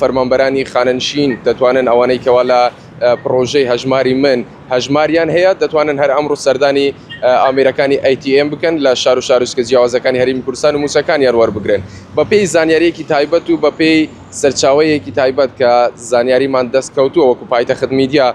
فەرمانبەرانی خانەنشین دەتوانن ئەوانەی کەوا لە پڕۆژەی هەژماری من هەژماریان هەیە دەتوانن هەر ئەمڕۆ سەردانی ئامێرەکانی ATM بکەن لە شار و شارۆچکە جیاوازەکانی هەرێمی کوردستان و مووچەکانیان وەربگرن بەپێی زانیارییەکی تایبەت و بەپێی سەرچاوەیەکی تایبەت کە زانیاریمان دەست کەوتووە وەکو پایتەخت میدیا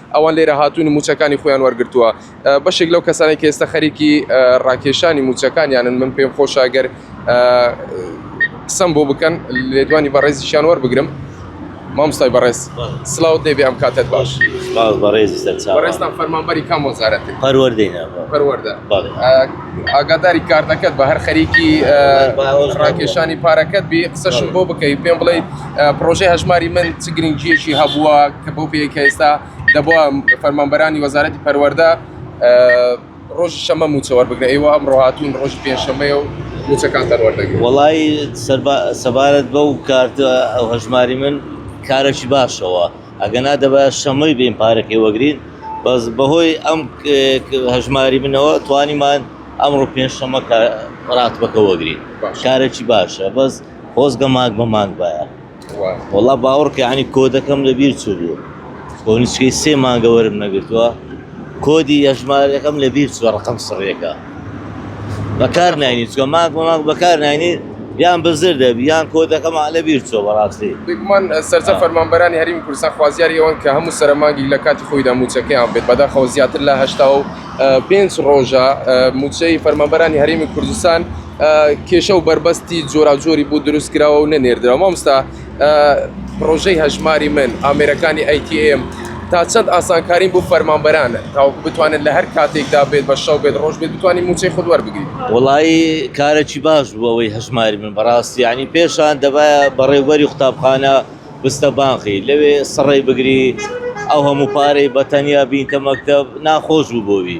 ئەوان لێرە هاتوون و مووچەکانی خۆیان وەرگرتووە. بەشێک لەو کەسانەی کە ئێستا خەریکی ڕاکێشانی مووچەکانیانن، من پێم خۆشە گەر قسەم بۆ بکەن، لێدوانی بەڕێزیشیان وەربگرم. مامۆستای بەڕێز، سڵاوت لێ بێ ئەم کاتەت باش. سڵاو بەڕێزی سەرچاوان. بەڕێزتان فەرمانبەری کام وەزارەتن؟ پەروەردەی ناوخۆ. پەروەردە. بەڵێ. ئاگاداری کارتەکەت بە، هەر خەریکی ڕاکێشانی پارەکەت بی، قسەشم بۆ بکەی، پێم بڵێی، پڕۆژەی هەژماری من چ گرنگیەکی هەبووە کە بۆ پێیە کە ئێستا دەبووە فەرمانبەرانی وەزارەتی پەروەەردە ڕۆژی شەمە موچە وەربگرە ئێوە ئەم ڕۆهاتون ڕۆژی پێنجشەمەیە و موچەکان دەروەردەگرن وەڵی سەبارەت بەو کارت ئەو هەژماری من کارێکی باشەوە ئەگەنا دەبە شەمەی بین پارەکەی وەگرین بەس بەهۆی ئەم هەژماری منەوە توانیمان ئەمڕۆ پێنجشەمە ڕاتبەکە وەگرین شارێکی باشە بەس خۆزگە مانگ بە مانگ بایە وەڵا باوەڕکە ینی کۆدەکەم لە بیر چوو بوو کۆنیچکەی سێ مانگە وەرم نەگرتووە کۆدی یەژمارەکەم لە بیر چوە ڕقم سڕێکە بەکار ناینی چوە مانگ بە مانگ بەکار ناینی یان بزر دەبی یان کۆدەکەم لە بیر چوە بەڕاستی بگومان سەرجە فەرمانبەرانی هەریم کوردستان خوازیاری ئەوەن کە هەموو سەرمانگی لە کاتی خۆیدا موچەکەیان بێت بەداخەوە زیاتر لە هشتا و پێنج ڕۆژە موچەی فەرمانبەرانی هەرێمی کوردستان کێشە و بەربەستی جۆراوجۆری بوو دروست کراوە و نەنێردرا مامستا پرۆژەی هەژماری من ئامێرەکانی ئەیTM تا چەند ئاسانکاری بۆ فەرمانبەرانە تاوەکو بتوانن لە هەر کاتێکدا بێت بە شەو بێت ڕۆژ بێت بتوانین موچەی خود وەربگرین وڵایی کارێکی باش بوو ئەوەی هەژماری من بەڕاستی ینی پێشان دەبایە بەڕێوبەری قوتابخانە بستە بانقی لەوێ سڕی بگری ئەو هەموو پارەی بەتەنیا بینتە مەکتب ناخۆش بوو بۆوی.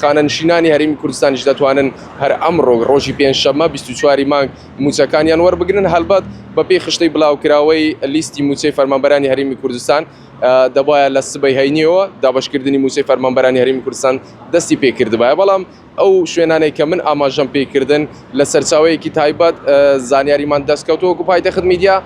خانەنشینانی هەرێمی کوردستانیش دەتوانن هەر ئەمڕۆ ڕۆژی پێنجشەممە 24 مانگ موچەکانیان وەربگرن هەلبەت بەپی خشتەی بلاوکراوەی لیستی موچەی فەرمانبەرانی هەرێمی کوردستان دەبایە لە سبەی هەینیەوە دابشکردنی موچەی فەرمانبەرانی هەرێمی کوردستان دەستی پێکردبایە بەڵام ئەو شوێنانەی کە من ئاماژەم پێکردن لە سەرچاوەیەکی تایبەت زانیاریمان دەستکەوتووەکو پایتەخت میدیا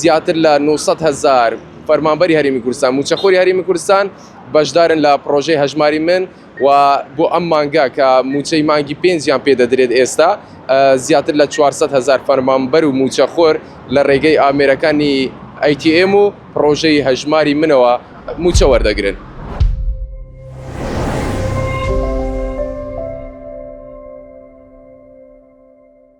زیاتر لە نۆ سەد هەزار فەرمانبەری هەرێمی کوردستان موچەخۆری هەرێمی کوردستان بەشدارن لە پرۆژەی هەژماری من و بۆ ئەم مانگە کە موچەی مانگی پێنجیان پێ دەدرێت ئێستا زیاتر لە 400 هزار فەرمانبەر و موچەخۆر لە ڕێگەی ئامێرەکانی ئەیTM و پرۆژەی هەژماری منەوە موچە وەردەگرن.